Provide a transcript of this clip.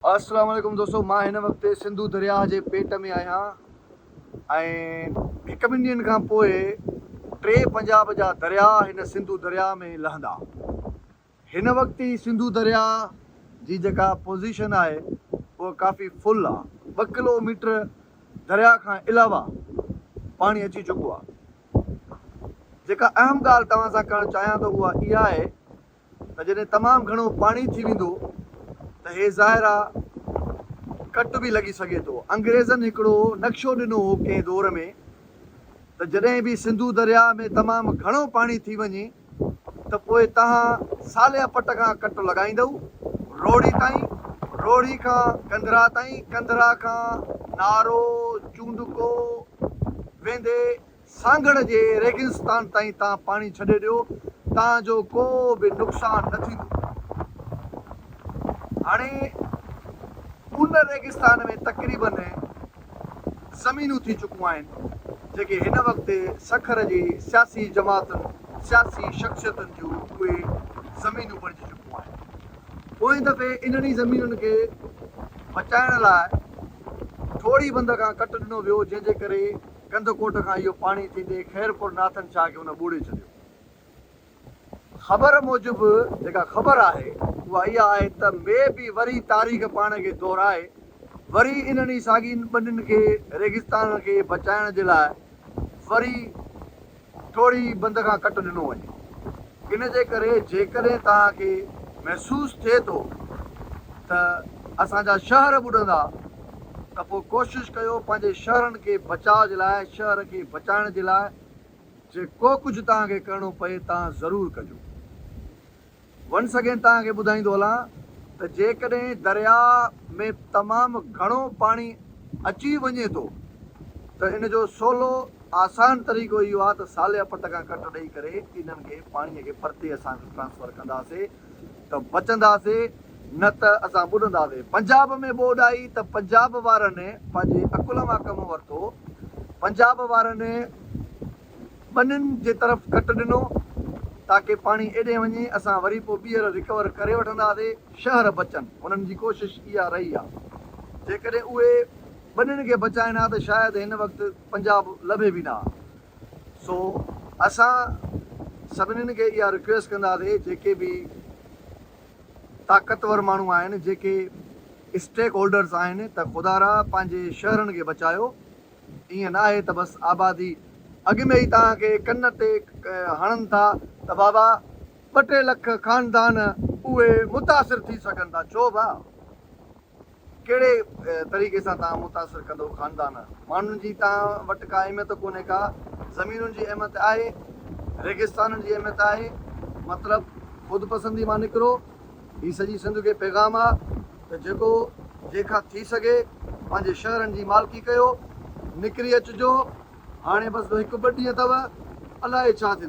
السلام عليڪم دوستو مان هن وقت سنڌو درياهه جي پيٽ ۾ آهيان ۽ هڪ ٻن ڏينهن کان پوء ٽي پنجاب جا درياهه هن سنڌو درياهه ۾ لهندا هن وقت هي سنڌو درياهه جي جيڪا پوزيشن آهي اها ڪافي فل آهي ٻه ڪلو ميٽر درياهه کان علاوه پاڻي اچي چڪو آهي جيڪا اهم ڳالهه توهان سان ڪرڻ چاهيان ٿو اها اها آهي ته جڏهن تمام گهڻو پاڻي ٿي ويندو ته هي ظاهرا ڪٽ به لڳي سگهي ٿو. انگريزن هڪڙو نقشو ڏنو هو ڪنهن دور ۾ ته جڏهن به سنڌو درياء ۾ تمام گهڻو پاڻي ٿي وڃي ته پوء تهان صالح پٽ کان ڪٽ لڳائيندؤ روهڙي تائين، روهڙي کان ڪنڌرا تائين، ڪنڌرا کان نارو، چونڊڪو، ويندي سانگهڙ جي ريگستان تائين تان پاڻي ڇڏي ڏيو تان جو ڪو به نقصان نه ٿيندو. هاڻي ان ريگستان ۾ تقريباً زمينون ٿي چڪون آهن جيڪي هن وقت سکر جي سياسي جماعتن، سياسي شخصيتن جون اهي زمينون بڻجي چڪون آهن. پوئين دفعي انهن ئي زمينن کي بچائڻ لاء ٺوڙهي بند کان ڪٽ ڏنو ويو جنهن جي ڪري ڪنڌ ڪوٽ کان اهو پاڻي ٿيندي خيرپور ناٿن شاهه کي هن ٻوڙي ڇڏيو. خبر موجب جيڪا خبر آهي اها اها آهي ته مي به وري تاريخ پاڻ کي دهرائي وري انهن ئي ساڳين ٻنين کي ريگستانن کي بچائڻ جي لاء وري ٿوري بند کان ڪٽ ڏنو وڃي. ان جي ڪري جيڪڏهن توهان کي محسوس ٿئي ٿو ته اسان جا شهر ٻڏندا ته پوء ڪوشش ڪيو پنهنجي شهرن کي بچاء جي لاء شهر کي بچائڻ جي لاء جي ڪو ڪجهه توهان کي ڪرڻو پئي توهان ضرور ڪجو. ونس اگين توهان کي ٻڌائيندو هلان ته جيڪڏهن درياء ۾ تمام گهڻو پاڻي اچي وڃي ٿو ته ان جو سولو آسان طريقو اهو آهي ته ساليا پٽ کان ڪٽ ڏئي ڪري انهن کي پاڻي کي پرتي اسان کي ٽرانسفر ڪنداسي ته بچنداسي نه ته اسان ٻڏنداسي پنجاب ۾ ٻوڏ آئي ته پنجاب وارن پنهنجي عقل مان ڪم ورتو پنجاب وارن ٻنين جي طرف ڪٽ ڏنو تاڪه پاڻي ايڏي وڃي اسان وري پو ٻيهر رڪور ڪري وٺنداسي شهر بچن انهن جي ڪوشش اها رهي آ جيڪڏهن اهي ٻنين کي بچائين ها ته شايد هن وقت پنجاب لڀي به نه ها سو اسان سڀنين کي اها رڪويسٽ ڪنداسي جيڪي به طاقتور ماڻهو آهن جيڪي اسٽيڪ هولڊرز آهن ته خدارا پنهنجي شهرن کي بچايو. ائين ناهي ته بس آبادي اڳ ۾ ئي توهان کي ڪن تي هڻن ٿا ته بابا ٻه ٽي لک خاندان اهي متاثر ٿي سگهن ٿا ڇو ڀاء ڪهڙي طريقي سان توهان متاثر ڪندو خاندان ماڻهن جي توهان وٽ ڪا اهميت ڪونهي ڪا زمينن جي اهميت آهي ريگستانن جي اهميت آهي مطلب خود پسندي مان نڪرو هي سڄي سنڌ کي پيغام آ ته جيڪو جنهن کان ٿي سگهي پنهنجي شهرن جي مالڪي ڪيو، نڪري اچجو، هاڻي بس هڪ ٻه ڏينهن اٿو، الائي ڇا ٿيندو.